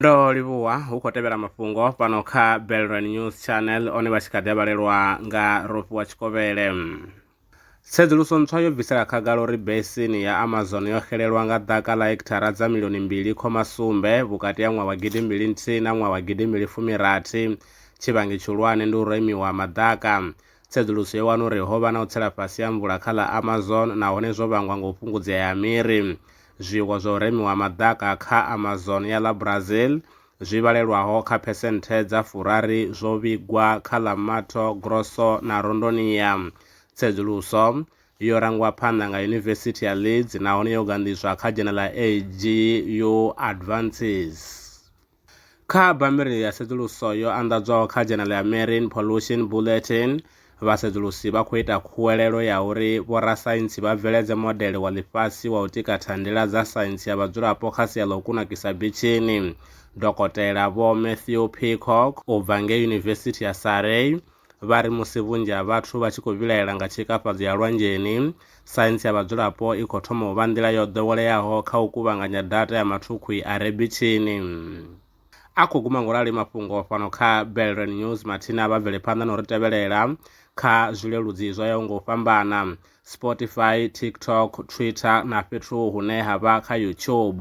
ndo livhuwa hu khou tevhela mafhungo fhano kha belran news channel one vha tshi kha ḓi vhalelwa nga rofi wa tshikovhele tsedzuluso ntswa yo bvisela khagala uri besini ya amazon yo xelelwa nga ḓaka ḽa hekithara dza milioni mbili khoma sumbe vhukati ha ṅwaha wa gidi mbili nthihi na ṅwaha wa gidi mbili fumirathi tshivhangi tshihulwane ndi u remiwa ha maḓaka Tsedzuluso yo wana uri ho vha na u tsela fhasi ha mvula kha ḽa Amazon nahone zwo vhangwa nga u fhungudzea ha miri. Zwiiwa zwa u remiwa ha maḓaka kha Amazon ya ḽa Brazil zwi vhalelwaho kha phesenthe dza furaru zwo vhigwa kha ḽa Mato Grosso na Rondônia. Tsedzuluso yo rangwa phanḓa nga Yunivesithi ya Leeds nahone yo ganḓiswa kha dzhenela AGU Advances. Kha bammbiri ya tsedzuluso yo anḓadzwaho kha dzhenele ya Marine Pollution Bulletin, vhasedzulusi vha khou ita khuwelelo ya uri vhorasaintsi vha bveledze modele wa ḽifhasi wa u tika thandela dza saintsi ya vhadzulapo kha sia ḽa u kunakisa bitshini. Dokotela Vho Matthew Peacock u bva ngei Yunivesithi ya Surrey vha ri musi vhunzhi ha vhathu vha tshi khou vhilaela nga tshikafhadzo ya lwanzheni, saintsi ya vhadzulapo i khou thoma u vha nḓila yo ḓoweleaho kha u kuvhanganya data ya mathukhwi a re bitshini. A khou guma ngolali mafhungo fhano kha Belren News mathina vha bvele phanḓa na u ri tevhelela kha zwileludzi zwo yaho nga u fhambana, Spotify, TikTok, Twitter na fhethu hune ha vha kha YouTube.